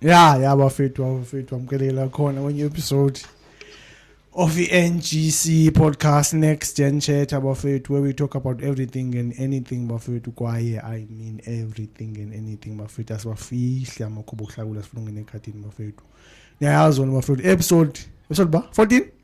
ya ya bafethu bafethu amkelela khona kwenye episode of i-ngc podcast next gen chat abafethu where we talk about everything and anything bafethu kwaye i mean everything and anything bafethu asibafihle amakhuba okuhlakula sifuna ungene ekhadini bafethu niyayazi ona bafethu episode episode ba 14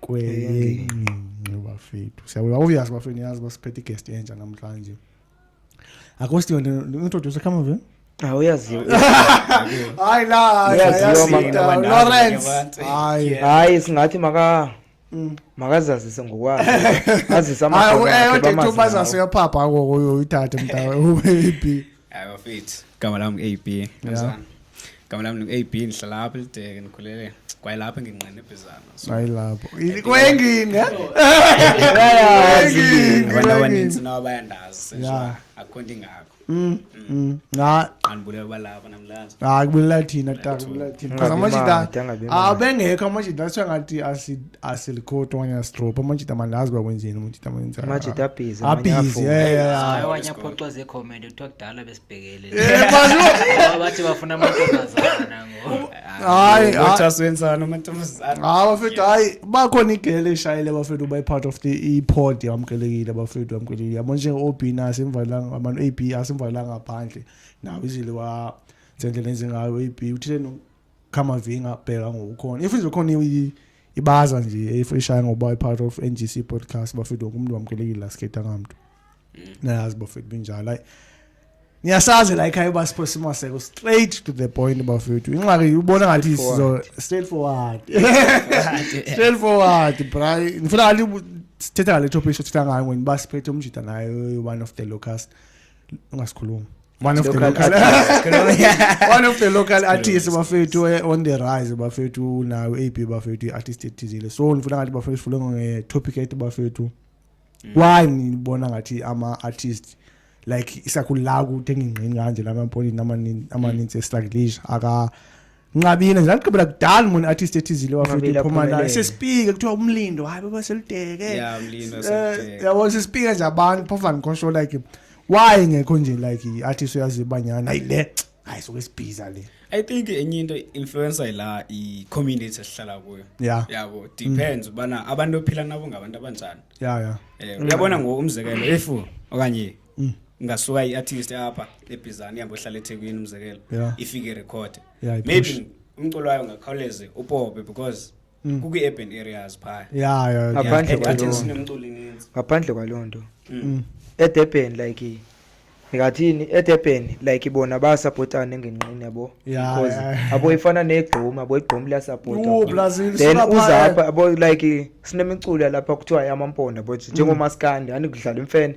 kweyengqingqi bafethu siyabona obvious bafethu niyazi basiphethe igest entsha namhlanje akho stiwe ndintroduce come over Ah, uyaziwa hayi la Uyaziwa hayi, mama, Sita, abantu lawrence abantu. hayi Yeah. hayi singathi maka Mm. makazazise ngokwazi azise hayi amadoda akhe bamazi nawo. ubazase yaphapha koko uyoyithathe mntawe ubeyiphi fit gama lam ngu-ab yeah. gama lam ngu-ab ndihlala apha elideke ndikhulele kwaye lapho engingqina ibhizana ayilapho kwengini abantu abaninzi nabo bayandazi akukho nto ingako Mm, mm. Ah, kubulala thina ta kubulala thina because amajita abengekho amajita sengathi asilko to wanya stro pa machita mandazi ba kwenzeni machita mwenza machita aphize aphize yeah yeah hayi wanya phoxwa ze comment uthiwa kudala besibhekele eh bazo bathi bafuna amantombazana ngo hayi bathi wenzana amantombazana hayi bafethu hayi bakhona igele eshayile bafethu by part of the pod yamkelekile bafethu yamkelekile yabo nje OB nasi imvalanga amano AB asimvalanga phandle nawo izile wa sendlela enzingayo AB uthile khamavinga abheka ngokukhona if nje khona ibaza nje if ishaya ngoba i-part of NGC podcast bafethu wonke umuntu wamkelekile la skate angamntu mm. nayazi bafethu binjalo hayi niyasazi la ekhaya uba siphosa imaseko straight to the point bafethu inxaki ubona ngathi sizo straight forward straight forward bra ngifuna ngathi sithetha ngale topic sithetha ngayo ngoba siphethe umjita nayo one of the locust ungasikhulumi one of the local one of the local artists bafethu eh, on the rise bafethu unayo ab bafethu i-artist ethizile so ndifuna ngathi bafethu sifule ngetopic ethi bafethu mm. why nibona ngathi ama-artist like isakhulu la kuthenga ingqini kanje la mapolini amaninzi mm. estraglish aka nqabile ndagqibela kudala mona artist ethizile wafiphuma naye sesipike kuthiwa umlindo hayi baba seludeke eh, yabo sesipike nje abantu phofa ndikhosho like why ngekho nje like i-artist uyaziyo ubanyana hayi le hayi soke sibhiza le i think enye into influencer ila i-community esihlala kuyo yeah. yabo mm. depends ubana mm. abantu ophila nabo ngabantu abanjani yeah, yeah. Eh, uyabona ngoku umzekelo if okanye mm. ingasuka i-artist apha ebhizani ihambe ohlala ethekwini umzekelo yeah. ifike irekhode yeah, maybe umculo wayo ngakhawuleze upope because mm. kukwi-urban areas phaya yeah, yeah, ngaphandle yeah. kwaloo sinemculo ininzi ngaphandle kwaloo nto mm. mm. edurban like ngathini edurban like bona bayasapotana engenqini yabo because abo ifana negqoma abo igqoma liyasapotadhen uzapha abo like sinemiculo yalapha kuthiwa yamamponda bo njengomaskandi andikudlala imfene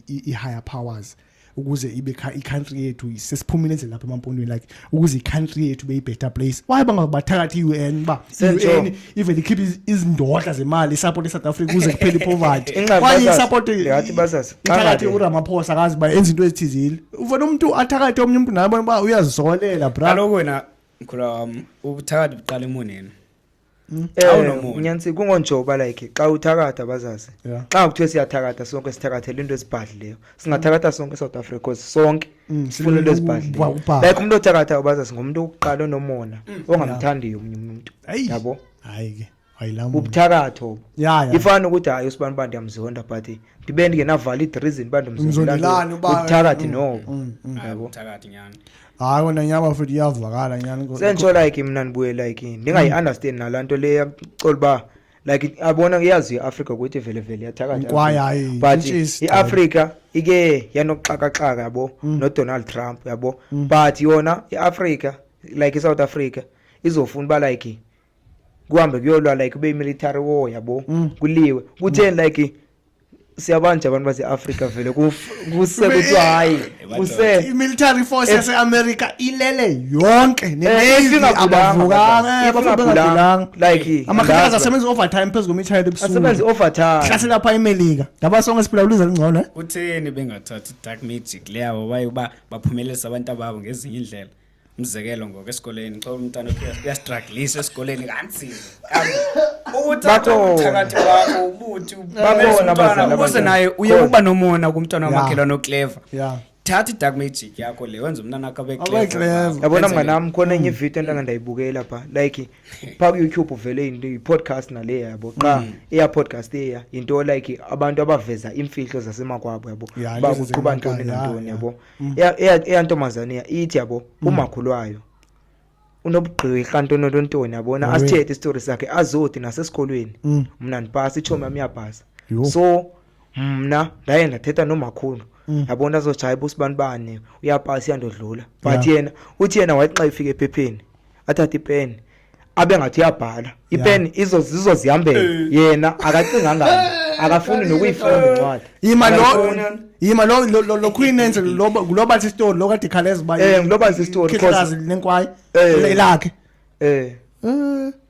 i-higher powers ukuze ibe i-country yethu sesiphumile endlela lapha emampondweni like ukuze i-country yethu be i-better place why bangabathakathi i-u n uba i-u n even ikhiphe izindodla zemali isapoti esouth africa ukuze kuphele ipoverty kwaye isapotiithakathi uramaphosa akazi uba enza into ezithizile ufuna umntu athakathe omnye umntu naye bona uba uyazisolela bra kaloku wena mkhula wam ubuthakathi buqala emoneni Hmm? Eh, Awunomunye. nyantsika ungonjoba like xa uthakatha bazazi Yeah. xa kuthiwe siyathakatha sonke sithakathela into ezibhadlileyo singathakatha sonke south africa cause sonke Mm, sifuna into silwela ezibhadlileyo ukuba- ubhadle. like umntu othagathayo bazazi ngumntu wokuqala onomona ongamthandiyo omnye umntu Ayi. yabo hayi ke wayilama bubuthakatho obo ya ya ifana ukuthi hayi usibani uba ndiyamzonda but ndibe ndingenavalid reason uba Umzondelani uba- bubuthakathi Mm, nobo mm, mm. yabo Thakathi nyani. hayi wena nyaba futhi iyavakala nyani ko- senditsho like mna ndibuye like Mm. ndingayi-understand nalaa nto le yacola uba like abona kuyazi i-afrika ukuthi vele vele iyathakatha Inkwaya, i-Afrika. hayi, but intshisi, i-afrika ike yanokuxakaxaka yabo Mm. nodonald trump yabo but yona i-afrika like isouth africa izofuna uba like kuhambe kuyolwa like kube imilitary war yabo Mm. kuliwe kutheni like siyabanje abantu baseafrika vele kuse kuthiwa hayi kuse i-military force yaseamerica ilele yonke eh, neavukanga like amakhaza asebenza i-overtime phezu kwemithayelo ebusukuasebenza i-overtime hlasela pha imelika ngaba sonke siphila uluza lungcono eh? kutheni bengathathi i-dark magic leyabo baye uba baphumelelisa abantu ababo ngezinye iindlela umzekelo ngoku esikoleni xa umntana uyastraglisha esikoleni kanzima uthakathi wakho ubuthi ubuze naye uye uba nomona kumntwana wamakhelwane okleva thatha idark magic yakho le wenza umntana akho abeyabona mnganam khona enye hmm. ividiyo entanga ndayibukela pha like phaa kuyoutube uvele into yi-podcast nale yabo qha hmm. eya podcast eya yinto like abantu abaveza iimfihlo zasemakwabo yabo uba kuqhuba ntoni nantoni yabo Mm. eyantombazane ya ithi yabo mm. umakhulu wayo unobugqirha ntononto ntoni yabona asithethe isitori sakhe azodi nasesikolweni mm. mna ndipasa itshomi yam iyabhasa so mna ndaye ndathetha nomakhulu yabona azotshaya busibani bani uyapasa iyandodlula but yena uthi yena wayexa ifika ephepheni athathe ipeni abe ngathi uyabhala ipeni izo zizo zihambele eh. yena akacinganga akafuni nokuyifunda incwadi yima lo yima lo lo- lo- lo queen enze lo lo bathi story lo kade khaleza ba Eh, lo bathi isitori, cause- khikazi lenkwayi Eh. ilakhe eh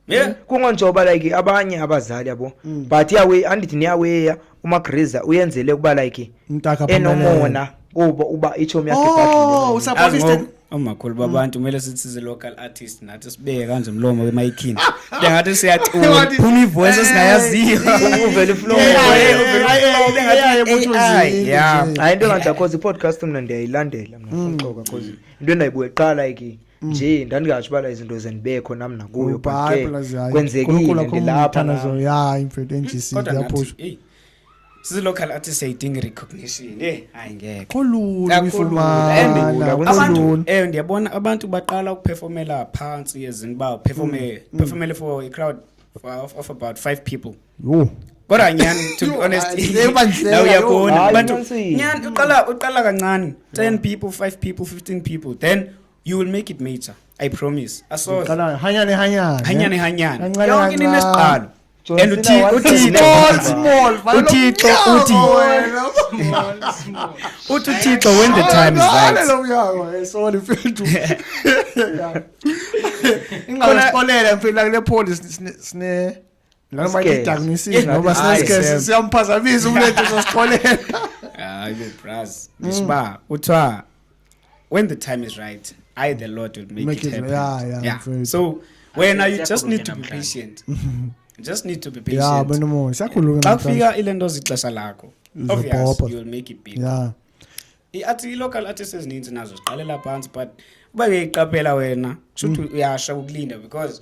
yeah kungonjoba like abanye abazali yabo but iyawe andithi niyaweya umagriza uyenzele ukuba like mntaka enomona kuba uba itshomi yakhe oh usapholisted omakhulu babantu kumele sithi zi-local artist nathi sibeke kanje mlomo wemayikhini ndengathi siyacula phuma ivoice esingayaziyo uvele iflowhayi into enganti akhoza i-podcast mna ndiyayilandela mna xoka bcause into endayibuye qala ikini Mm. nje ndandingatsho uba izinto zendibekho nam nakuyo kwenzekile ndilapha ya imfethu enjisi ndiyaphusha sizilocal artist siyayidinga i-recognition e hayi ngekoabantu ewe ndiyabona abantu baqala ukuphefomela phantsi ezini uba uphefomele mm. mm. for a crowd of, of about five people yho kodwa nyhani to be honest naw uyabona abantu nyhani uqala uqala kancane 10 people 5 people 15 people then you will make it major i promise asohanyane hanyane yonke into inesiqalo and uthixo uthixo uthi uthi uthixo when the time is right ingasikolele mfethu lakule police sine Noma Sketch. ngiyidakunisile Yes, ngoba hayi, sinesikesi Sam. siyamphazamisa umlethe sosixolela. hayi bo bras Mm. ngisba kuthiwa when the time is right i the lord will make, Make it it- happen yeah, yeah, yeah. mfethu. so wena you Siyakhuluma just need to be namhlanje. patient You just need to be patient Yeah, bana mo, siyakhuluma xa namhlanje. kufika ile nto zixesha lakho Zibhobha. obvious you will make it big Yeah. i-art i-local artist ezininzi nazo ziqalela phantsi but uba uyayiqaphela wena kusho ukuthi uyasha ukulinda because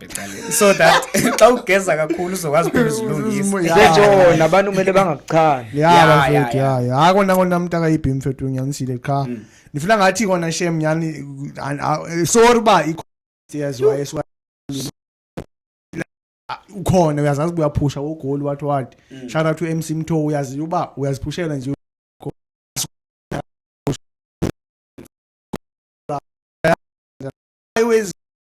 eqaleni so that xa ugeza kakhulu uzokwazi uphela uzilungisa Nje nabantu kumele bangakuchani. ya Ya, bafethu ya, ya ya hayi kona kona mntu akayibhi mfethu unyanisile qha Mm. ndifuna ngathi kona shem nyani an- a- eh, sorry uba ikho- yes, wa- yes, wa- Ah, ukhona uyazazi uba uyaphusha wogoli wathi wathi Mm. shout out to mc mtho uyazi uba uyaziphushela nje Always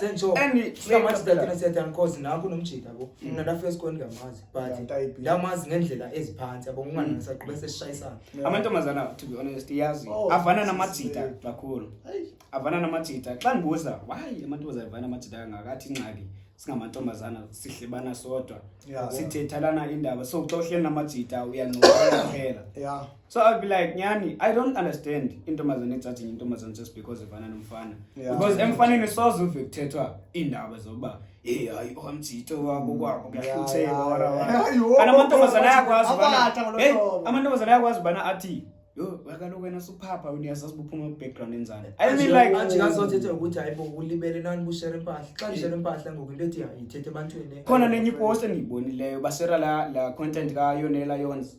sentsho endiamathiatinasiyatyankosi naku nomjita bo mm. mna ndafika esikolweni ndingamazi but ndamazi ngendlela eziphansi abo ngunganasaqube mm. sesishayisana amantombazana to be honest iyazi oh, avana namajita kakhulu avana namajita xa ndibuza wayi amantombazana avana namajita kangakathi ingxaki singamantombazana sihlebana sodwa sithethalana indaba so xa uhleli namajita uyancokola phela so i'll be like nyani i don't understand intombazane etsathinye intombazane just because ifana nomfana Yeah. because emfaneni soze uve kuthethwa iindaba zokuba hey hayi omjito wabo kwabo kuyahluthelwa Yeah, wara yeah. wara Hayi, wo, kana wo, amantombazane wo, ayakwazi ubana abatha ngolo hey hlobo. amantombazane ayakwazi ubana athi yo kaloku wena suphapha wena uyazazi ubuphuma kwi-background enzani i mean like ajikazothethe ukuthi hayi bo ulibele nani bushere impahla xa ndishere impahla ngoku into ethi hayi ithethe ebantwini khona nenye ipost endiyibonileyo basera la, la content kayonela yons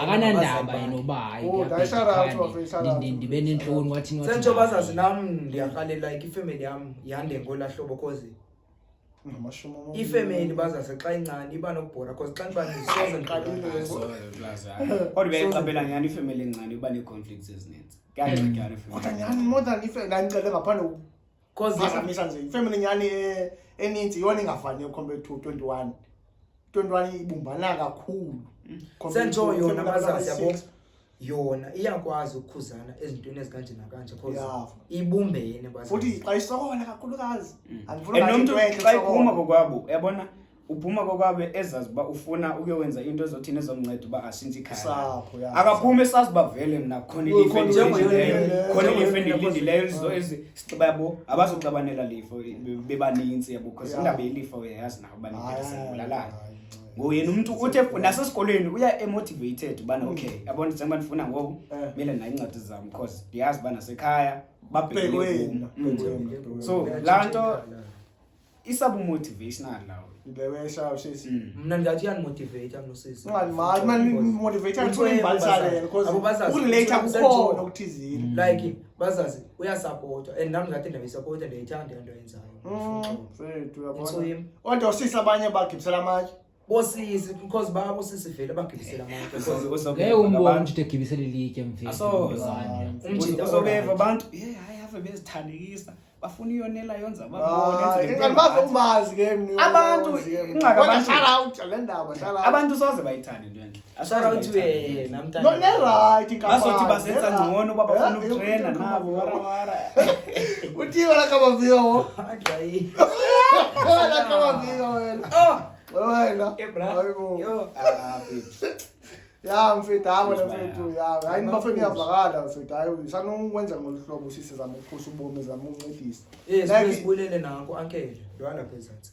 akanandaba yena uba ndibe nentloni wathini sentsho bazazi nam ndiyarhalela like ifemeli yam yande ngola hlobo cause ifemeli bazazi xa incane iba nokubhora cause xa ndibandisozekodwa beyayixabela nyhani ifemeli encane iba nee-conflicts ezininzi kuyangcedwana ifemeli kodwa nyhani more than ife ndandicele ngaphandle Cause basamisa nje ifamily nyani eh, eninzi yona ingafaniyo compared to 21. 21 ibumbana kakhulu. Mm. Senjo yona bazazi yabo. Yona iyakwazi ukukhuzana ezintweni ezikanje nakanje cause ibumbene bazazi. Futhi xa isokola kakhulukazi. Mm. Andifuna umuntu xa iphuma kokwabo yabona uphuma kokwabe ezazi uba ufuna ukuyowenza into ezothini ezomnceda uba ashintshe ikhaya akaphumi esazi uba vele mna khona ilifu endilindileyo sixeba yabo abazoxabanela lifo bebanintsi yabo because indaba yelifa uyayazi nawo baneesebulalana ngoku yena umntu uthi nasesikolweni uya emotivated ubana mm. okay yabona njengoba ndifuna ngoku eh. mele nayo iincwadi zam because ndiyazi uba nasekhaya babhekele mm. so laa nto isabu motivational lawo ndewesha ushesi hmm. mna ndingathi andimotiveyitha mna usisi motiveyitha ndibalisale because ukulate kukhona okuthizile hmm. like bazazi uyasapota and nam ndingathi ndiyayisapota ndiyayithanda into yenzayo hmm, kodwa usisi abanye bagibisela amatye bosisi because baba bosisi vele bagibisela abantu ngeke umbone ukuthi egibisela ilitye mfethu asoze umjita osobeva abantu hey hayi ave bezithandekisa bafuna iyonela yonza babone abantu ingxaka abantu shout out le ndaba shout out abantu soze bayithande into enhle ya mfethu hayi wena mfethu ya hayi nibafeni iyavakala mfethu hayi sanokwenza ngolu hlobo usisi zama ukukhusa ubomi zama ukuncedisa yes sibulele nako ankele yona phezansi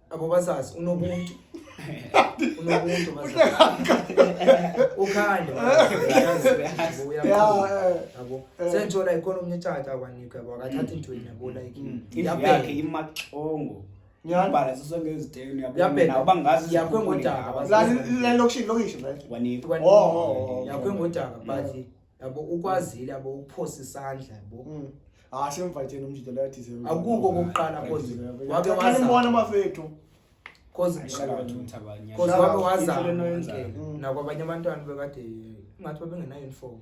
abo bazazi unobuntu unobuntu ukhande yabo sentsho like khona omnye tshata akwanikwe yabo akathathi ntweni yabo like yakhe imaxongo ngiyabhala siso ngezidelo uyabona uba ngazi yakwe ngodaka la lokushini lokisho manje wanikwe oh, oh, oh, yakwe ngodaka but yabo ukwazile yabo uphosa isandla yabo mm. hayi semvatsheni umjito leyo thize akuko okokuqala cause wake wazambona abafethu cause cause wake wazambona mm. nakwabanye abantwana bekade ingathi babengenayo uniform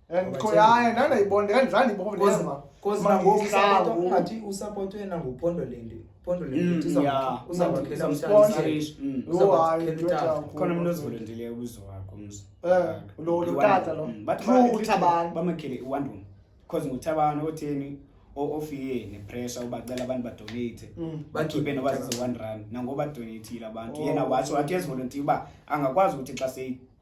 and khoyaye nandayibona ndandizandibona cause nangoku ungathi usapotwe nangupondo le nto Pondo le Mm, ndiza yeah. kuthi uzakwakhela Some umntana sponsor. isayisha. Mm. Uza Yho, hayi, kwakhela ndoda itafo. yakho. khona mntu ozivolontileyo kuzo wakho umzi Eh, lo- lo tata lo. True, uThabani. bamakhele iwandum because nguthabani otheni o- ofiye nepressure ubacela abantu badonate Mm. bakhiphe noba zizo-one rand nangoba donatile abantu Oh. yena watsho wathi ezivolontiya uba angakwazi ukuthi xa seyi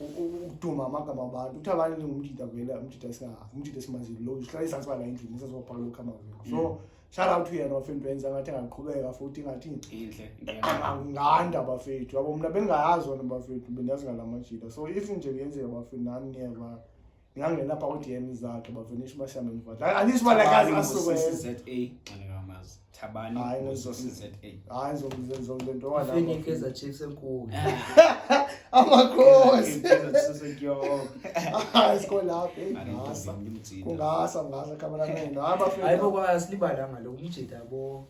ukuduma amagama abantu uthi abantu ndingumdida vele umdida umdida esimaziyo lo sihlala izantsi bala endlini sasibabhala lokhu amaviko so mm. shout out to yena bafethu benza ngathi angaqhubeka futhi ngathi nganda bafethu abo mna bengayazi wona bafethu bendazi ngala majida so if nje kuyenzeka bafethu nani niyeva ngangena pha kwi-dm zakhe bavenisha uba sihambe mvadla andithi uba lekazi asukweza Thabani hayi ngizosiza hayi ngizokwenza le nto wala fini keza chiefs enkulu amakhosi hayi sikho lapho ingasa kungasa ngasa khamera nendo hayi bafethu hayi bokwala silibala ngalo umjita bo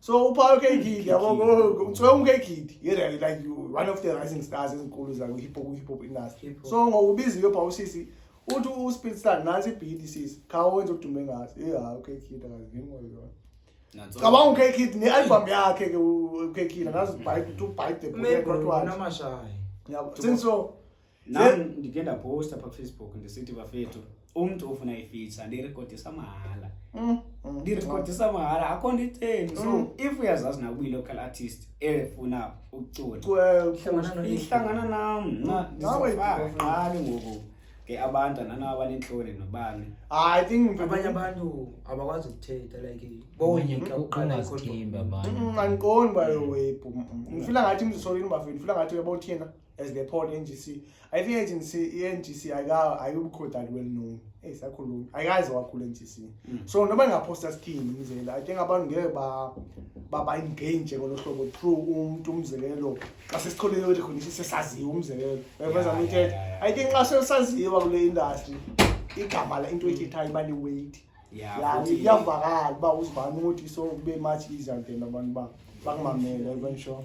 so uphawu kekidi yabo ngicwela umkekidi yena like one of the rising stars ezinkulu zakwi-hip hop hip hop industry Hip hop. so ngokubiza iyo phawu sisi uthi uspeedstar nansi ibhidi sisi khawenza udume ngaso ye hayi ukekidi akazivini ngoyona Nanso- cabanga ukekidi ne-album yakhe ke ukekidi angazi ubhayibhe uthi ubhayibhe Maybe unamashaya. sinso nam ndike ndapowusta pha kufacebook ndisithi bafethu umntu ofuna ifeature ndirekhodisa mahala mm, mm, ndirekhodisa mm. mahala akho nto itheni so if uyazazi nakuba yi-local artist efuna ukuculaihlangana nam naqali ngoku ke abantu anana abanentloni nobani ah, i think abanye abantu abakwazi ukuthetha like bonyeka uqalaandiqondi bayo webhu ndifila ngathi mzisolini bafethu ndifila ngathi uyabawuthina as they pawn NGC. I think agency iNGC ayika ayikho that well known. Hey sakhulumi. Ayikaze wakhula NGC. Mm. So noma ningaposta sithini umzela. I think abantu ngeke ba baba engage ngolo hlobo through umuntu umzekelo xa sesithole le recognition sesaziwa umzekelo. Beveza yeah, umthetho. Yeah, yeah. I think xa sesaziwa kule industry igama la into ethethayo iba liweight. Yeah. Yeah, iyavakala uba uzibani ukuthi so kube much easier then abantu ba bakumamele even sure.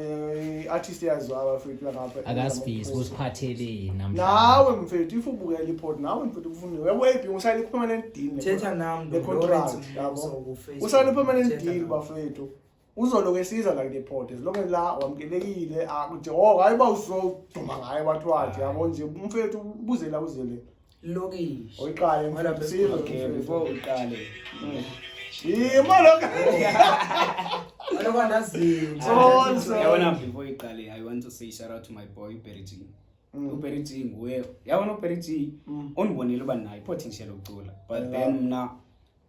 Eh, artist yaziwayo mfethu langapha akasifisi usiphatheleni namhlanje nawe mfethu if ubukela ipod nawe mfethu kufunde wewebhi usayine i-permanent deal thetha nam the contract yabo usayine i-permanent deal bafethu uzoloku esiza like the pod as long as la wamkelekile akude oh hayi uba uzoduma ngaye wathi wathi yabo nje umfethu ubuzela uzele lokishi oyiqale mfundisile okay before uqale yimo lokho yabona before iqale i want to say shout out to my boy berity mm. uberry g nguye yabona uberry g mm. undibonile uba nayo i-potential yokucula but then mna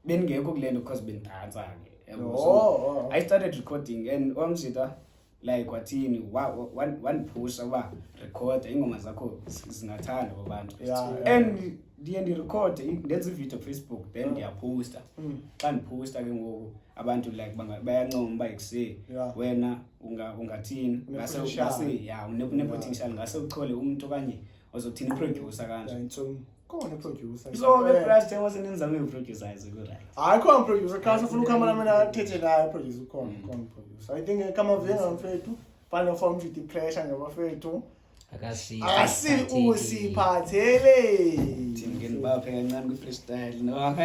bendingekho kule nto because bendidansa ke yabo. Oh, So, oh, oh. i started recording and omsita like wathini wa- wa- wan- wandiphusha uba recorda iingoma zakho zi- zingathanda babantu Yeah, yeah. and ndiye ndirekhode i- ndenze ividiyo kufacebook then ndiyaphosta Mm. xa ndiphosta ke ngoku abantu like banga- bayancoma uba ekuse Yeah. wena unga- ungathini ngase Unepotential. ngase- ya une- unepotential ngase uchole umntu okanye ozothini iprodyusa kanje Yeah, it's, um, khona iproducer so ke brush there was nenza nge producer izo ku right hayi khona producer kha sifuna ukhama na mina thethe naye producer khona mm. khona producer i think eh, kama venga mfethu final form to the pressure ngabafethu akasi asi usiphathele thingeni baphe kancane ku freestyle no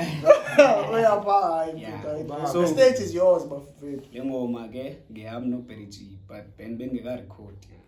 uyapha hayi so stage is yours bafethu lengoma ke ngiyami no Berry G but ben bengeka record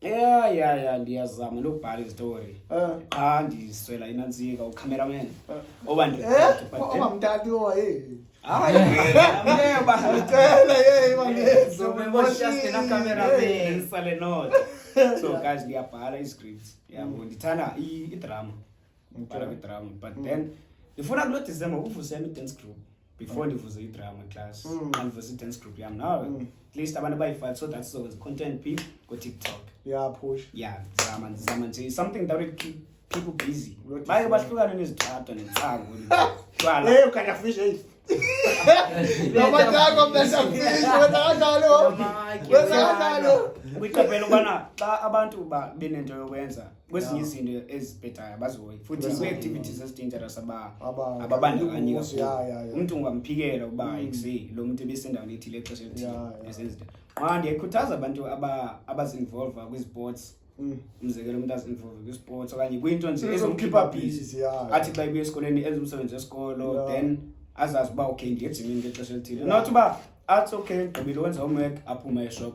ya ya ya ndiyazama nokubhala izitori Eh. qha ndiswela inantsika ucameraman oba ndi- Eh? but then- Oba mtati owa eh. Hayi, ameba. Cela eh ibangezo. So we were just in a camera there. Ndisale not. so guys ndiyabhala iscript yabo ndithanda i- idrama ndibhala kwidrama but then ndifuna kulo december kuvusela i-dance group before ndivuze idrama class mm. andivuze i-dance group yam now mm. at least abantu abayi-five so that sizokwenza content p ngotiktok yeah push yeah ndizama ndizama nje something that will keep people busy baye bahlukane nezithatha nentsango twala ukanya fish eight Namatako mnasha fish wena kanjalo wena kanjalo kwiqaphela ubana xa abantu benento yokwenza kwezinye izinto ezibhedayo abazihoyi futhi kwii-activities ezidangerous ababandakanyika umntu ungamphikela uba mm. ikuse lo mntu ebesendaweni ethile exesha elithile esenzinto qha ndiyayikhuthaza abantu abazinvolva kwiziports mm. umzekelo umntu azinvolve kwisports okanye kwinto nje ezomkhipha busy athi xa ibuye esikolweni enza umsebenzi wesikolo then azazi uba okay ndiyejimini ngexesha elithile not uba athi okay gqibile wenza homework aphume eshop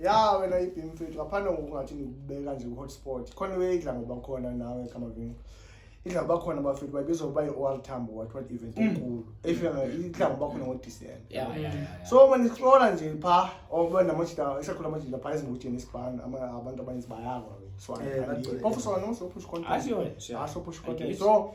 ya wena ibhim fethu ngaphandle ngokungathi ndikubeka nje kwi-hotspot khona iwe idla ngoba khona nawe kamavini idla ngoba khona bafethu bayibiza ukuba yi-oral tambo what what event enkulu efika nga- idla ngoba khona ngo-december Yeah, yeah, yeah, yeah. so uma nisixola nje pha oba namajita isakhula amajita pha ezingutsheni esibhani abantu abaninzi bayakwa ke so Eh, angikhalile. bagcwele. phofu sona no so push content Asho wena, sure. Ah, so push I content get it. so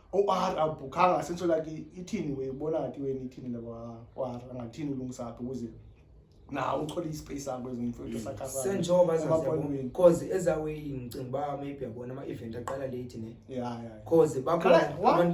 OR awubhukhanga senso lakhe ithini we ubona ngathi wena ithini labo OR angathini ulungisa aphi ukuze nawo uthole ispace sakho ezimfowethu mm. sakhaza senjoba zazibonweni because ezawe ngicinga ba maybe yabona ama event aqala late ne yeah yeah because bakho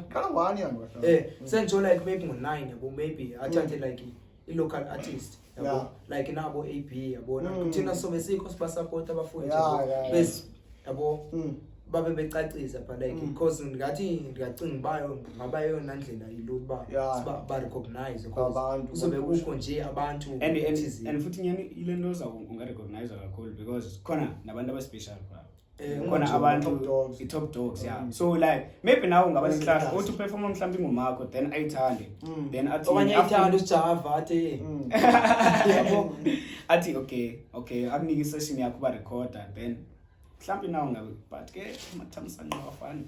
kala one yami eh mm. senjo like maybe ngo 9 yabo maybe athathe mm. like i-local artist yabo Yeah. like nabo a b yabona Mm. thina sobe sikho sibasapota abafundi Yeah, yabo. yeah, yeah. Bes- yabo Mm. babe becacisa but like Mm. because ndingathi ndiyacinga uba yo- ngaba yeyona ndlela yilula uba Yeah. siba- barecognize because Kwabantu, kuzobe kwabantu. kukho nje abantu and and thizeni. and futhi nyani ile nto uza ungarecognize kakhulu because khona nabantu abaspecial phaa Eh, khona abantu i-top dogs ya mm. so like maybe nawe ungaba nenhlahla uthi uperforma mhlawumbe ingumakho then ayithande mm. then athiokanye ayithande usijava athi mm. athi okay okay akunike isession yakho uba recorda then mhlawumbi nawo ngabe but ke mathamsanqa wafani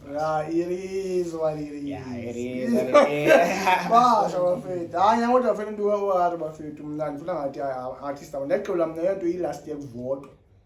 basha bafethu hayi nyangodwa fethu ndiwewari bafethu mna ndifuna ngathi artist abo ndaxola mna yonto iyi-last year kuvotwa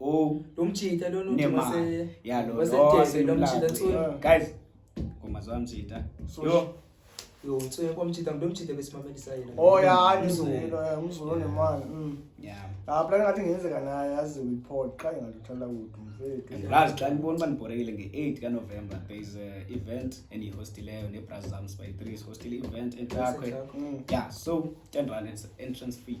Oh, lomjita lona uthi mase ya lo wasenteze lomjita tsu. Guys, ngoma zwa mjita. Yo. Yo, tsu yakwa mjita ndo mjita besimamelisa yena. Oh ya, ngizwelo ya ngizwelo nemali. Mm. Yeah. Ah, plan ngathi ngenzeka naye yazi report qha ngaluthola kudu mfethu. Ngazi xa nibona uba nibhorekile nge-8 kaNovember there is a event endiyihostileyo nebras zam by 3 is hostil event entlakwe. Mm. Yeah, so 10 rand entrance fee.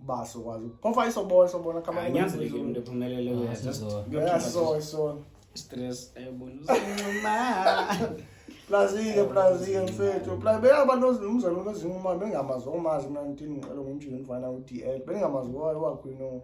basi ukwazi phofa isobona sobona kama anyanzeleke umuntu ephumelele uya just yeah so so stress ayibona plazile plazile mfethu pla beyabantu umzali onozinquma bengamazi omazi mna ndindiqele ngomjini ndifana u-d l bendingamazi wayo wakhwino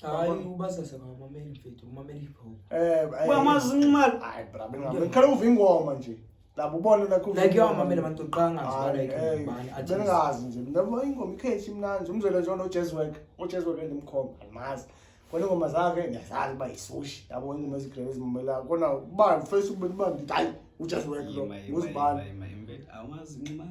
Hayi ubasase ngabameli mfethu, umameli hip hop. Eh, Uyamazi inximali. Hayi bra, bengikhale uva ingoma nje. Labo ubone nakho. Like yo mamela abantu qanga nje like eh, bani athi. Bengazi nje. Mina ingoma ikhethi imnandi, umzwele nje no jazz work, o jazz work endimkhomba, andimazi. Kona ingoma zakhe ndiyazazi ba isushi. Yabo ingoma ezigrebe ezimamela. Kona ubani face ubani ubani, hayi u jazz work lo. Uzibani. Awumazi inximali.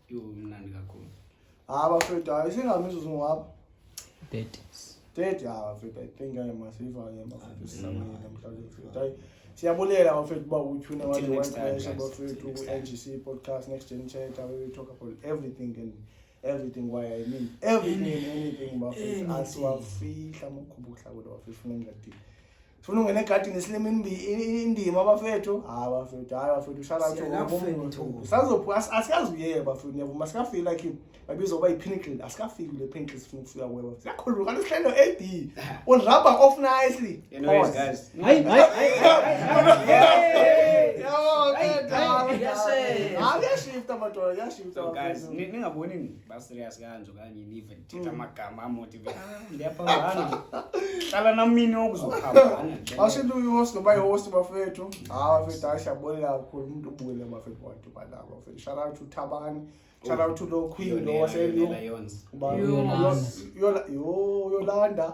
Yomnandi kakhulu. Ah, bafethu, hayi singabiza uzungwapha. 30s. 30 ah, bafethu, I think I must be for him bafethu sisamile namhlanje bafethu. Hayi siyabulela bafethu uba utyhuna Until wathi next time, wanqesha guys. bafethu Until next time. ku-NGC podcast next gen chat where we talk about everything and everything why I mean everything and anything bafethu asiwafihla amakhuba okuhlakulo bafethu funeka ndingathini Funa ungena egadini silima indima abafethu. Hayi abafethu, hayi abafethu uhlala nje ngomuntu. Sazophuma asiyazi uye bafethu niyavuma sikafiki la kimi. Babiza uba ipinnacle asikafiki le pinnacle sifuna ukufika kuwe bafethu. Siyakhulula kanti sihlelo AD. On rubber off nicely. Anyways guys. Hayi hayi hayi. Yo, yashe. Hayi yashifta madoda, yashifta. Guys, ningaboni ba serious kanje okanye nive thetha amagama amotiveaphambana qala nam mini okuzophambana awuseluyihost noba yihost bafethu hawa bafethu hayi siyabulela kakhulu umntu ubule bafethu wathi ubadala bafethu shout out to thabani shout out to lo queen lo waseluyola yolanda